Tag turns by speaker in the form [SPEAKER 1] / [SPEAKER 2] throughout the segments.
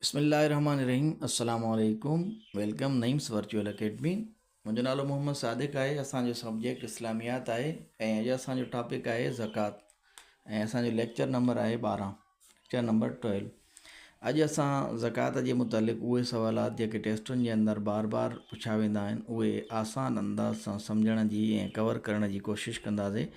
[SPEAKER 1] بسم الله الرحمٰن الرحيم السلام عليڪم ويلڪم نعيمس ورچوئل اڪيڊمي منهنجو نالو محمد صادق آهي اسان جو سبجيڪٽ اسلاميات آهي ۽ اڄ اسان جو ٽاپڪ آهي زڪات ۽ اسان جو ليڪچر نمبر آهي ٻارهن ليڪچر نمبر ٽويلو اڄ اسان زڪات جي متعلق اهي سوالات جيڪي ٽيسٽن جي اندر بار بار پڇا ويندا آهن اهي آسان انداز سان سمجھڻ جي ۽ ڪور ڪرڻ جي ڪوشش ڪنداسين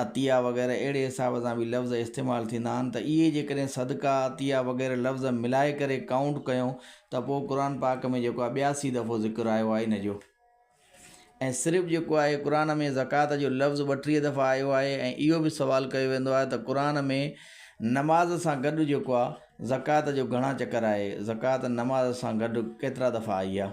[SPEAKER 1] عطيه وغيره اهڙي حساب سان به لفظ استعمال ٿيندا آهن ته اهي جيڪڏهن صدقه، عطيه وغيره لفظ ملائي ڪري ڪائونٽ ڪيون ته پوء قرآن پاڪ ۾ جيڪو آهي ٻياسي دفعو ذڪر آيو آهي ان جو ۽ صرف جيڪو آهي قرآن ۾ زڪوات جو لفظ ٻٽيهه دفعا آيو آهي ۽ اهو به سوال ڪيو ويندو آهي ته قرآن ۾ نماز سان گڏ جيڪو آهي زڪوات جو گهڻا چڪر آهي زڪوات نماز سان گڏ ڪيترا دفعا آئي آهي.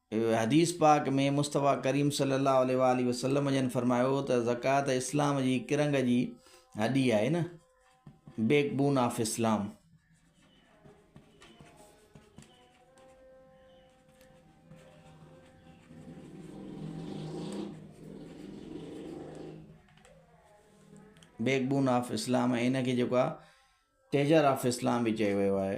[SPEAKER 1] حديث پاڪ ۾ مصطفيٰ ڪريم صلّي اللّٰه عليه واٰله وسلّم جن فرمايو ته زڪوات اسلام جي ڪرنگ جي هڏي آهي نه بيڪ بون آف اسلام بيڪ بون آف اسلام ۽ ان کي جيڪو آهي ٽيجر آف اسلام به چيو ويو آهي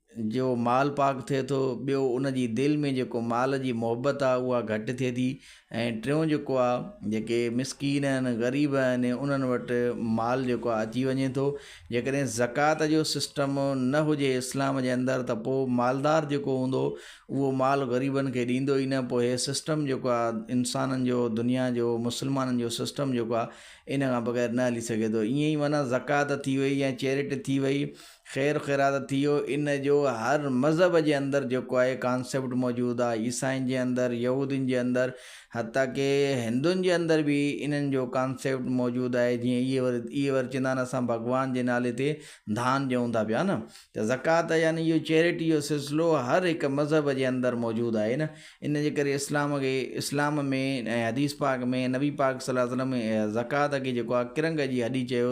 [SPEAKER 1] جو مال پاڪ ٿئي ٿو، ٻيو ان جي دل ۾ جيڪو مال جي محبت آ اها گهٽ ٿئي ٿي ۽ ٽيون جيڪو آ جيڪي مسڪين آهن غريب آهن انهن وٽ مال جيڪو آ اچي وڃي ٿو جيڪڏهن زڪوات جو سسٽم نه هجي اسلام جي اندر ته پوء مالدار جيڪو هوندو اهو مال غريبن کي ڏيندو ئي نه پوء هي سسٽم جيڪو آ انسانن جو دنيا جو مسلمانن جو سسٽم جيڪو آ ان کان بغير نه هلي سگهي ٿو ائين ئي معنيٰ زڪوات ٿي وئي يا چيرٽ ٿي وئي خير خيرات ٿي ويو ان جو هر مذهب جي اندر جيڪو آهي ڪانسيپٽ موجود آهي عيسائين جي اندر يهودين جي اندر حتيٰ ڪي هندن جي اندر به انهن جو ڪانسيپٽ موجود آهي جيئن اهي ور اهي ور چوندا آهن اسان ڀڳوان جي نالي تي ڌان ڏيون ٿا پيا نه ته زڪوات يعني اهو چيريٽي جو سلسلو هر هڪ مذهب جي اندر موجود آهي نه ان جي ڪري اسلام کي اسلام ۾ ۽ حديث پاڪ ۾ نبي پاڪ صلي الله عليه وسلم زڪوات کي جيڪو آهي ڪرنگ جي هڏي چيو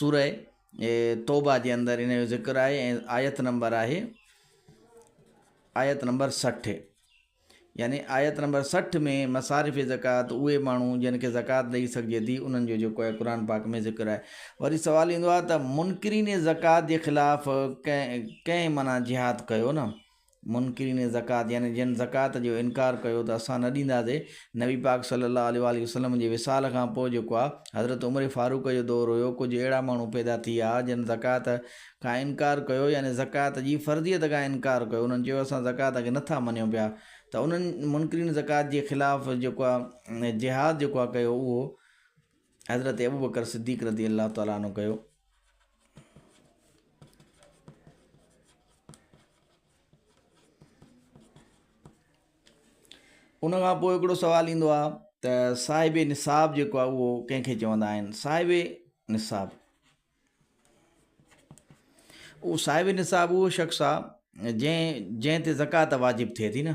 [SPEAKER 1] سورة توبه جي اندر ان جو ذڪر آهي ۽ آيت نمبر آهي آيت نمبر سٺ يعني آيت نمبر سٺ ۾ مصارف زڪوٰۃ اهي ماڻهو جن کي زڪوٰۃ ڏئي سگهجي ٿي انهن جو جيڪو آهي قرآ پاڪ ۾ ذڪر آهي وري سوال ايندو آهي ته منڪرين زڪوٰۃ جي خلاف ڪنهن ڪنهن معنيٰ جهاد ڪيو نه منڪرين زڪوات يعني جن زڪوات جو انڪار ڪيو ته اسان نه ڏينداسي، نبي پاڪ صلّي الله عليه واٰله وسلّم جي وصال کان پوء جيڪو آ حضرت عمر فاروق جو دور هيو ڪجهه اهڙا ماڻهو پيدا ٿي آ جن زڪوات کان انڪار ڪيو يعني زڪوات جي فرضيت کان انڪار ڪيو انهن چيو اسان زڪوات کي نه ٿا مڃيون پيا ته انهن منڪرين زڪوات جي خلاف جيڪو آ جهاد جيڪو آ ڪيو اهو حضرت ابوبڪر صديق رضي الله تعالٰي عنه ڪيو. ان کان پوء هڪڙو سوال ايندو آهي ته صاحب نصاب جيڪو آهي اهو ڪنهن کي چوندا آهن صاحب نصاب اهو صاحب نصاب اهو شخص آهي جنهن جنهن تي زڪوات واجب ٿئي ٿي نه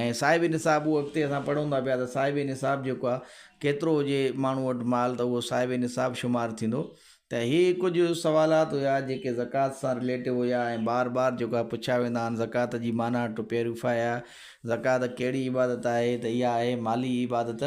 [SPEAKER 1] ۽ صاحب نصاب اهو اڳتي اسان پڙهون ٿا پيا ته صاحب نصاب جيڪو آهي ڪيترو هجي ماڻهو وٽ مال ته اهو صاحب نصاب شمار ٿيندو ته هي ڪجهه سوالات هيا جيڪي زڪوات سان رليٽو هيا ۽ بار بار جيڪو آهي پڇيا ويندا آهن زڪوات جي معنيٰ ٽو پيريفايا زڪوات ڪهڙي عبادت آهي ته اها آهي مالي عبادت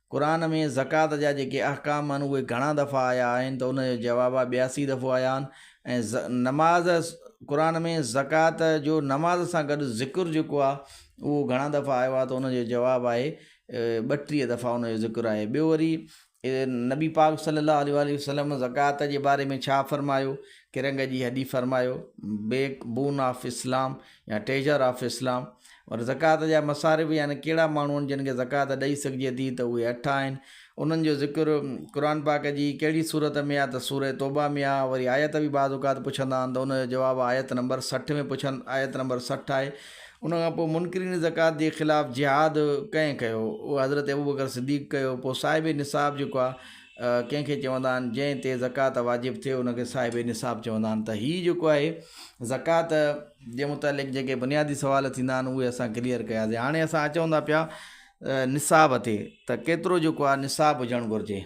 [SPEAKER 1] قرآن ۾ زڪوات جا جيڪي احڪام آهن اهي گهڻا دفعا آيا آهن ته ان جا جواب ٻياسي دفعو آيا آهن ۽ ز نماز قرآن ۾ زڪوات جو نماز سان گڏ ذڪر جيڪو آهي اهو گهڻا دفعا آيو آهي ته ان جو جواب آهي ٻٽيهه دفعا ان جو ذڪر آهي ٻيو وري نبي پاڪ صلي الله عليه وآله وسلم زڪوات جي باري ۾ ڇا فرمايو ڪرنگ جي هڏي فرمايو بيڪ بون آف اسلام يا ٽيجر آف اسلام پر زڪوات جا مصارف يعني ڪهڙا ماڻهو آهن جن کي زڪوات ڏئي سگهجي ٿي ته اهي اٺ آهن انهن جو ذڪر قرآن پاڪ جي ڪهڙي سورت ۾ آهي ته سوره توبه ۾ آهي وري آيت به بعض اوقات پڇندا آهن ته ان جو جواب آيت نمبر سٺ ۾ پڇن آيت نمبر سٺ آهي ان کان پوء منڪرين زڪوات جي خلاف جهاد ڪنهن ڪيو اهو حضرت ابوبڪر صديق ڪيو پوء صاحب نصاب جيڪو آهي ڪنهن کي چوندا آهن جنهن تي زڪوات واجب ٿئي ان کي صاحب نصاب چوندا آهن ته هي جيڪو آهي زڪوات جي متعلق جيڪي بنيادي سوال ٿيندا آهن اهي اسان ڪليئر ڪياسين هاڻي اسان اچون ٿا پيا نصاب تي ته ڪيترو جيڪو آهي نصاب هجڻ گهرجي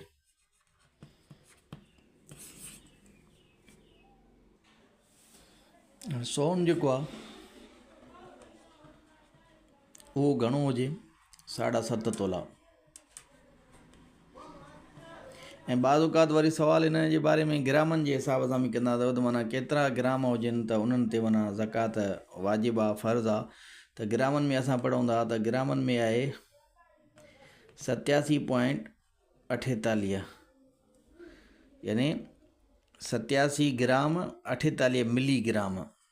[SPEAKER 1] سون جيڪو آهي اهو گهڻو هجي ساڍا ست تولا ۽ بعض اوقات وري سوال انهن جي باري ۾ گرامن جي حساب سان به ڪندا اٿو ته معنيٰ ڪيترا گرام هجن ته انهن تي معنيٰ زڪوات واجب آ فرض آ ته گرامن ۾ اسان پڙهون ٿا ته گرامن ۾ آهي ستياسي پوائنٽ اٺيتاليهه يعني ستياسي گرام اٺيتاليهه ملي گرام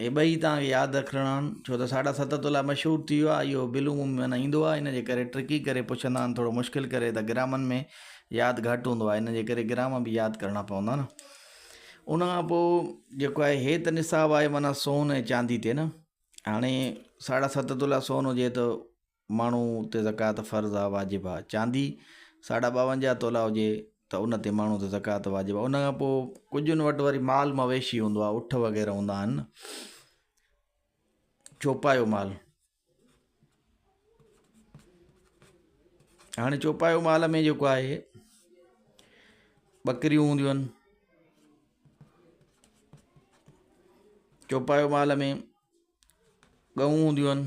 [SPEAKER 1] هي ٻئي توهان کي ياد رکڻا آهن ڇو ته ساڍا ست تولا مشهور ٿي ويو آهي اهو بلو مون ۾ نه ايندو آهي ان جي ڪري ٽرڪي ڪري پڇندا آهن ٿورو مشڪل ڪري ته گرامن ۾ ياد گهٽ هوندو آهي ان جي ڪري گرام به ياد ڪرڻا پوندا نه ان کان پوء جيڪو آهي هي ته نصاب آهي معنيٰ سون ۽ چاندي تي نه هاڻي ساڍا ست تولا سون هجي ته ماڻهو تي زڪوات فرض آ واجب آ چاندي ساڍا ٻاونجاهه تولا هجي ته ان تي ماڻهو تي زڪوات واجب آ ان کان پوء ڪجهن وٽ وري مال مويشي هوندو آ اٺ وغيره هوندا آهن چوپايو مال هاڻي چوپايو مال ۾ جيڪو آهي ٻڪريون هونديون آهن چوپايو مال ۾ ڳئون هونديون آهن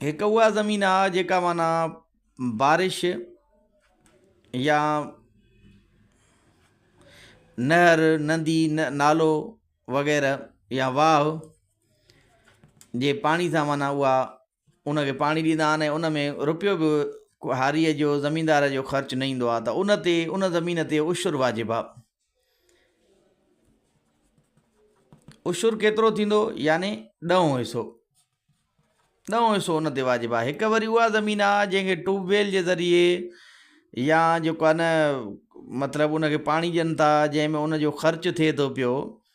[SPEAKER 1] هڪ اها زمين آ جيڪا معنيٰ بارش يا نهر ندي نالو وغيره يا واهه جي پاڻي سان معنيٰ اها ان کي پاڻي ڏيندا آهن ۽ ان ۾ رپيو به هاريء جو، زميندار جو، خرچ نه ايندو آهي ته ان تي، ان زمين تي، عشر واجب آهي. عشر ڪيترو ٿيندو يعني ڏهون حصو، ڏهون حصو ان تي واجب آهي. هڪ وري اها زمين آهي جنهن کي ٽيوب ويل جي ذريعي يا جيڪو آهي نه مطلب ان کي پاڻي ڏين ٿا جنهن ۾ ان جو خرچ ٿئي ٿو پيو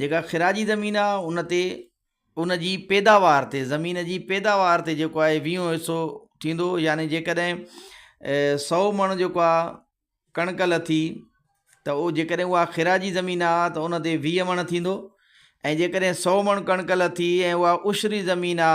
[SPEAKER 1] جيڪا خراجي زمين آ ان تي ان جي پيداوار تي زمين جي پيداوار تي جيڪو آهي ويهون حصو ٿيندو يعني جيڪڏهن سو مڻ جيڪو آ ڪڻڪ لٿي ته او جيڪڏهن اها خراجي زمين آ ته ان تي ويهه مڻ ٿيندو ۽ جيڪڏهن سو مڻ ڪڻڪ لٿي ۽ اها عشري زمين آ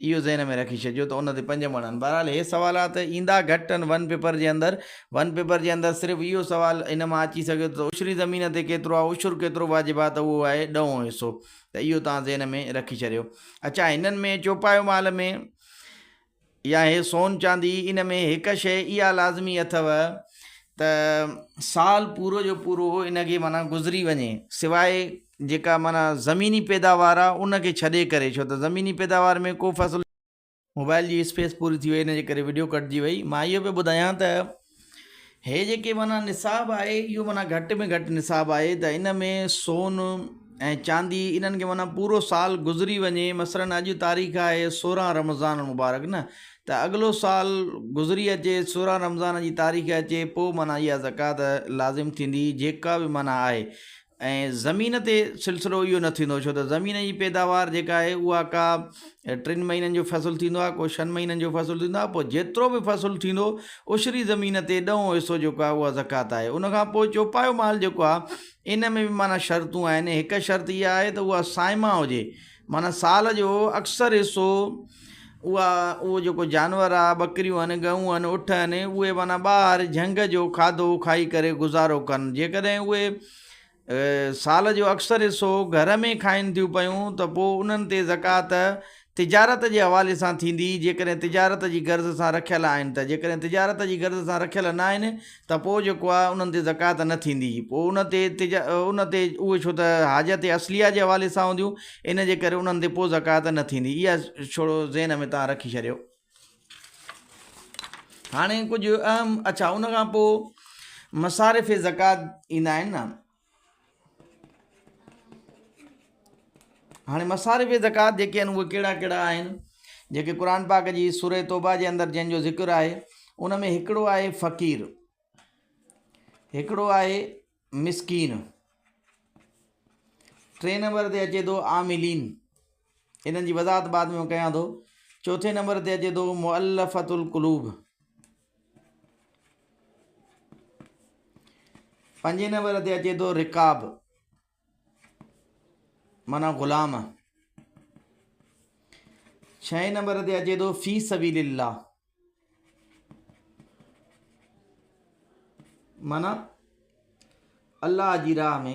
[SPEAKER 1] اهو ذهن ۾ رکي ڇڏجو ته ان تي پنج مڻ آهن. بهرحال هي سوالات ايندا گهٽ آهن ون پيپر جي اندر. ون پيپر جي اندر صرف اهو سوال ان مان اچي سگهي ٿو ته عشري زمين تي ڪيترو آهي عشر ڪيترو واجب آهي ته اهو آهي ڏهون حصو ته اهو توهان ذهن ۾ رکي ڇڏيو. اڇا هنن ۾ چوپايو مال ۾ يا هي سون چاندي ان ۾ هڪ شيء اها لازمي اٿو ته سال پورو جو پورو ان کي معنيٰ گذري وڃي سواء جيڪا معنيٰ زميني پيداوار آ ان کي ڇڏي ڪري ڇو ته زميني پيداوار ۾ ڪو فصل. موبائل جي اسپيس پوري ٿي وئي ان جي ڪري وڊيو ڪٽجي وئي مان اهو پيو ٻڌايان ته هي جيڪي معنيٰ نصاب آهي اهو معنيٰ گهٽ ۾ گهٽ نصاب آهي ته ان ۾ سون ۽ چاندي انهن کي معنيٰ پورو سال گذري وڃي مثلاً اڄ تاريخ آهي سورهن رمضان المبارڪ نه ته اڳلو سال گذري اچي سورهن رمضان جي تاريخ اچي پوء معنيٰ اها زڪوات لازم ٿيندي جيڪا به معنيٰ آهي ۽ زمين تي سلسلو اهو نه ٿيندو ڇو ته زمين جي پيداوار جيڪا آهي اها ڪا ٽن مهينن جو فصل ٿيندو آهي ڪو شن مهينن جو فصل ٿيندو آهي پوء جيترو به فصل ٿيندو عشري زمين تي ڏهون حصو جيڪو آهي اها زڪوات آهي ان کان پوء چوپايو مال جيڪو آهي ان ۾ به معنيٰ شرطون آهن هڪ شرط اها آهي ته اها سائما هجي معنيٰ سال جو اڪثر حصو اها اهو جيڪو جانور آهي ٻڪريون آهن ڳئون آهن اٺ آهن اهي معنيٰ ٻاهر جهنگ جو کاڌو کائي ڪري گذارو ڪن جيڪڏهن اهي سال جو اڪثر حصو گهر ۾ کائن ٿيون پيون ته پوء انهن تي زڪوات تجارت جي حوالي سان ٿيندي جيڪڏهن تجارت جي غرض سان رکيل آهن ته جيڪڏهن تجارت جي غرض سان رکيل ناهن ته پوء جيڪو آهي انهن تي زڪوات نه ٿيندي، پوء ان تي تج ان تي اهي ڇو ته حاجت اصليه جي حوالي سان هونديون، ان جي ڪري انهن تي پوء زڪوات نه ٿيندي، اها ڇڙو ذهن ۾ توهان رکي ڇڏيو. هاڻي ڪجهه اهم اڇا ان کان پوء مصارف زڪوات ايندا آهن نه. هاڻي مصارف زڪوات جيڪي آهن اهي ڪهڙا ڪهڙا آهن جيڪي قرآن پاڪ جي سورة توبه جي اندر جنهن جو ذڪر آهي ان ۾ هڪڙو آهي فقير هڪڙو آهي مسڪين ٽي نمبر تي اچي ٿو عاملين انهن جي وضاحت بعد ۾ ڪيان ٿو چوٿين نمبر تي اچي ٿو مؤلفت القلوب پنجين نمبر تي اچي ٿو رڪاب مانا غلام ڇهين نمبر تي اچي ٿو في سبيل الله مانا الله جي راهه ۾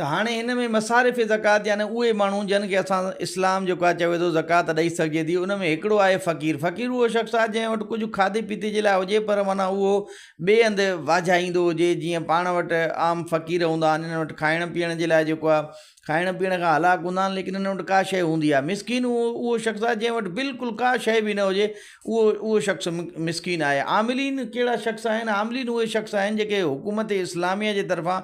[SPEAKER 1] ته هاڻي هن ۾ مصارف زڪوات يعني اهي ماڻهو جن کي اسان اسلام جيڪو آهي چوي ٿو زڪوات ڏئي سگهجي ٿي ان ۾ هڪڙو آهي فقير فقير اهو شخص آهي جنهن وٽ ڪجهه کاڌي پيتي جي لاء هجي پر معنيٰ اهو ٻئي هنڌ واجهائيندو هجي جيئن پاڻ وٽ عام فقير هوندا آهن انهن وٽ کائڻ پيئڻ جي لاء جيڪو آهي کائڻ پيئڻ کان هلاڪ هوندا آهن ليڪن انهن وٽ ڪا شيء هوندي آهي مسڪين اهو اهو شخص آهي جنهن وٽ بلڪل ڪا شيء به نه هجي اهو اهو شخص مسڪين آهي. عاملين ڪهڙا شخص آهن؟ عاملين اهي شخص آهن جيڪي حڪومت اسلاميه جي طرفان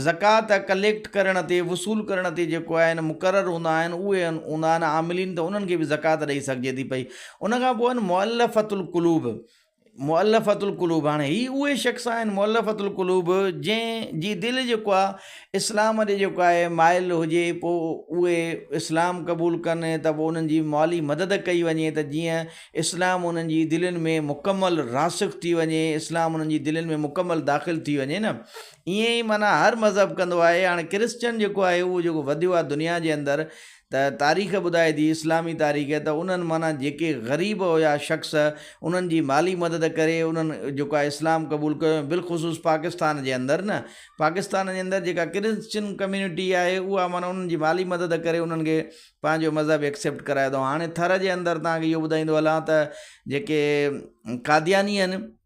[SPEAKER 1] زڪوات ڪليڪٽ ڪرڻ تي، وصول ڪرڻ تي جيڪو آهن مقرر هوندا آهن اهي هوندا آهن عاملين ته انهن کي به زڪوات ڏئي سگهجي ٿي پئي. ان کان پوء آهن مؤلفة القلوب، مؤلفة القلوب هاڻي هي اهي شخص آهن مؤلفة القلوب جنهن جي دل جيڪو آهي اسلام ڏي جيڪو آهي مائل هجي پوء اهي اسلام قبول ڪن ته پوء انهن جي مالي مدد ڪئي وڃي ته جيئن اسلام انهن جي دلين ۾ مڪمل راسخ ٿي وڃي اسلام انهن جي دلين ۾ مڪمل داخل ٿي وڃي نه ائين ئي معنيٰ هر مذهب ڪندو آهي هاڻي ڪرسچن جيڪو آهي اهو جيڪو وڌيو آهي دنيا جي اندر ته تاريخ ٻڌائي ٿي اسلامي تاريخ ته انهن معنيٰ جيڪي غريب هيا شخص انهن جي مالي مدد ڪري انهن جيڪو آهي اسلام قبول ڪيو ۽ بالخصوص پاڪستان جي اندر نه پاڪستان جي اندر جيڪا ڪرسچن ڪميونٽي آهي اها معنيٰ انهن جي مالي مدد ڪري انهن کي پنهنجو مذهب ايڪسيپٽ ڪرايو اٿئون هاڻي ٿر جي اندر توهان کي اهو ٻڌائيندو هلان ته جيڪي قادياني آهن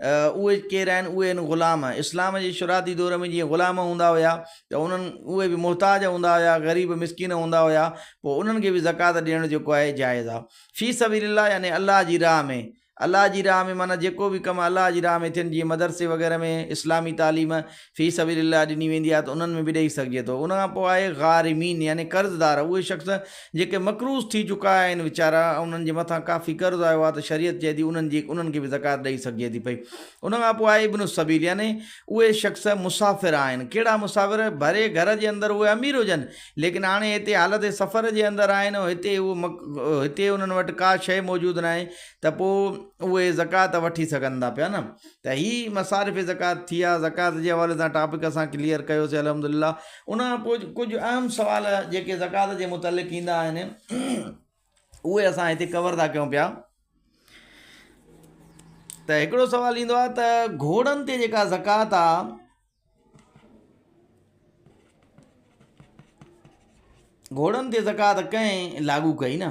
[SPEAKER 1] اهي ڪير آهن؟ اهي آهن غلام. اسلام جي شروعاتي دور ۾ جيئن غلام هوندا هيا ته انهن اهي به محتاج هوندا هيا، غريب مسڪين هوندا هيا، پوء انهن کي به زڪوات ڏيڻ جيڪو آهي جائز آهي. في سبيل الله يعني الله جي راهه ۾، الله جي راهه ۾ معنيٰ جيڪو به ڪم الله جي راهه ۾ ٿين جيئن مدرسي وغيره ۾ اسلامي تعليم في سبيل الله ڏني ويندي آهي ته انهن ۾ به ڏيئي سگهجي ٿو. ان کان پوء آهي غارمين يعني قرضدار، اهي شخص جيڪي مقروض ٿي چڪا آهن ويچارا انهن جي مٿان ڪافي قرض آيو آهي ته شريعت چئي ٿي انهن جي انهن کي به زڪوات ڏيئي سگهجي ٿي پئي. ان کان پوء آهي ابن السبيل يعني اهي شخص مسافر آهن. ڪهڙا مسافر؟ ڀري گهر جي اندر اهي امير هجن ليڪن هاڻي هتي حالت سفر جي اندر آهن ۽ هتي اهي هتي انهن وٽ ڪا شيء موجود ناهي ته پوء اهي زڪوات وٺي سگهن ٿا پيا نه. ته هي مصارف زڪوات ٿي ها زڪوات جي حوالي سان ٽاپڪ اسان ڪليئر ڪيوسي الحمدلله ان کان پوء ڪجهه اهم سوال جيڪي زڪوات جي متعلق ايندا آهن اهي اسان هتي ڪور ٿا ڪيون پيا ته هڪڙو سوال ايندو آهي ته گهوڙن تي جيڪا زڪوات آ گهوڙن تي زڪوات ڪئين لاڳو ڪئي نه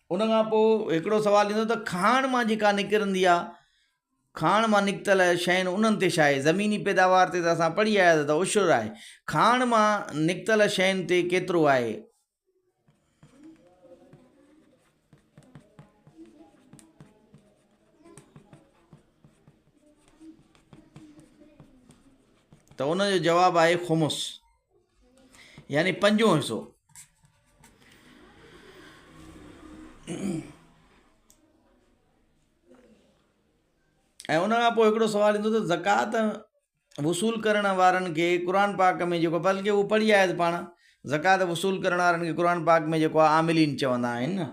[SPEAKER 1] ان کان پوء هڪڙو سوال ايندو ته کاڻ مان جيڪا نڪرندي آ کاڻ مان نڪتل شين انهن تي ڇا آهي زميني پيداوار تي ته اسان پڙهي آيا ته عشر آهي کاڻ مان نڪتل شين تي ڪيترو آهي؟ ته ان جو جواب آهي خمس. يعني پنجون حصو. ۽ ان کان پوء هڪڙو سوال ايندو ته زڪوات وصول ڪرڻ وارن کي قرآن پاڪ ۾ جيڪو بلڪه اهو پڙهي آيت پاڻ زڪوات وصول ڪرڻ وارن کي قرآن پاڪ ۾ جيڪو عاملين چوندا آهن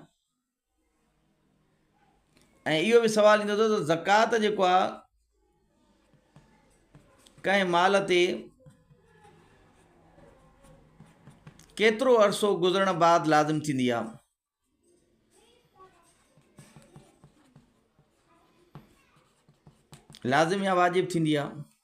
[SPEAKER 1] ۽ اهو به سوال ايندو اٿو ته زڪوات جيڪو آ ڪنهن مال تي ڪيترو عرصو گذرڻ بعد لازم ٿيندي آ لازم يا واجب ٿيندي آ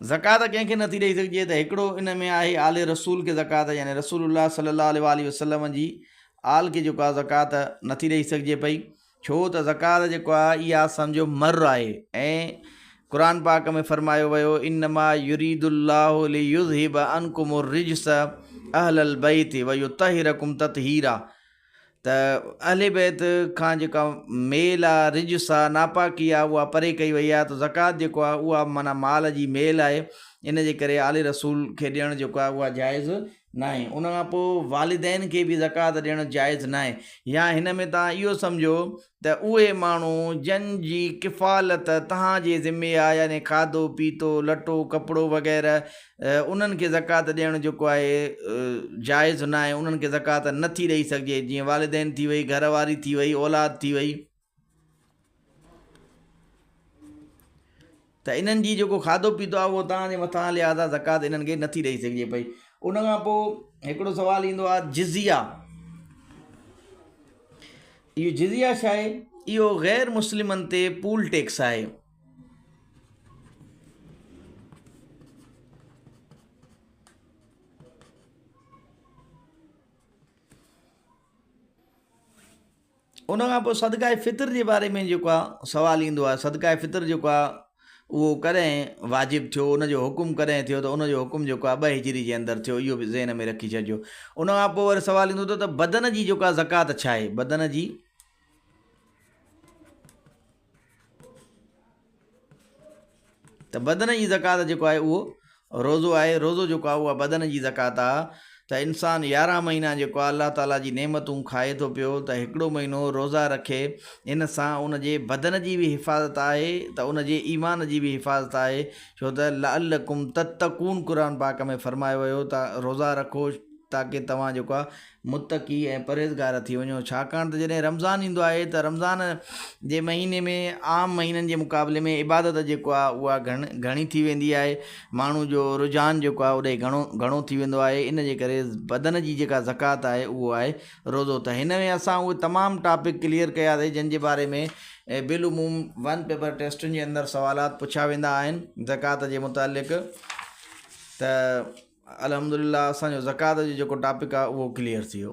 [SPEAKER 1] زڪوات ڪنهن کي نٿي ڏيئي سگهجي ته هڪڙو ان ۾ آهي آل رسول کي زڪوات يعني رسول الله صلي الله عليه وسلم جي آل کي جيڪو آهي زڪوات نٿي ڏيئي سگهجي پئي ڇو ته زڪوات جيڪو آهي اها اسان جو مر آهي ۽ قرآن پاڪ ۾ فرمايو ويو انما يريد الله ليذهب عنكم الرجس اهل البيت ويطهركم تطهيرا ته اهل بيت کان جيڪا ميل آ رجس آ ناپاڪي آ اها پري ڪئي وئي آ ته زڪوات جيڪو آ اها معنيٰ مال جي ميل آهي ان جي ڪري آل رسول کي ڏيڻ جيڪو آهي اها جائز ناهي ان کان پوء والدين کي به زڪوات ڏيڻ جائز ناهي يا هن ۾ توهان اهو سمجهو ته اهي ماڻهو جن جي ڪفالت توهان جي ذمي آهي يعني کاڌو پيتو لٽو ڪپڙو وغيره انهن کي زڪوات ڏيڻ جيڪو آهي جائز ناهي انهن کي زڪوات نٿي ڏئي سگهجي جيئن والدين ٿي وئي گهر واري ٿي وئي اولاد ٿي وئي ته انهن جي جيڪو کاڌو پيتو آهي اهو تان جي مٿان آهي لهٰذا زڪوات انهن کي نٿي ڏئي سگهجي پئي ان کان پوء هڪڙو سوال ايندو آهي جزيه اهو جزيه ڇا آهي اهو غير مسلمن تي پول ٽيڪس آهي ان کان پوء صدقه فطر جي باري ۾ جيڪو آ سوال ايندو آهي صدقه فطر جيڪو آ اهو ڪڏهن واجب ٿيو ان جو حڪم ڪڏهن ٿيو ته ان جو حڪم جيڪو آ ٻه هجري جي اندر ٿيو اهو به ذهن ۾ رکي ڇڏجو ان کان پوء وري سوال ايندو ته بدن جي جيڪو آ زڪوات ڇا آهي بدن جي ته بدن جي زڪوات جيڪو آهي اهو روزو آهي روزو جيڪو آهي اها بدن جي زڪوات آهي ته انسان يارهن مهينا جيڪو آهي الله تعالٰي جي نعمتون کائي ٿو پيو ته هڪڙو مهينو روزا رکي ان سان ان جي بدن جي بي حفاظت آهي ته ان جي ايمان جي بي حفاظت آهي ڇو ته لعلڪم تتقون قرآن پاڪ ۾ فرمايو ويو ته روزا رکو تاڪي توهان جيڪو آهي متقي ۽ پرهيزگار ٿي وڃو ڇاڪاڻ ته جڏهن رمضان ايندو آهي ته رمضان جي مهيني ۾ عام مهينن جي مقابلي ۾ عبادت جيڪو آهي اها گهڻي ٿي ويندي آهي ماڻهو جو رجحان جيڪو آهي اوڏي گهڻو گهڻو ٿي ويندو آهي ان جي ڪري بدن جي جيڪا زڪوات آهي اهو آهي روزو ته هن ۾ اسان اهي تمام ٽاپڪ ڪليئر ڪياسي جن جي باري ۾ بالعموم ون پيپر ٽيسٽن جي اندر سوالات پڇيا ويندا آهن زڪوات جي متعلق ته الحمدلله اسان جو زڪوات جو جيڪو ٽاپڪ آ اهو ڪليئر ٿي ويو.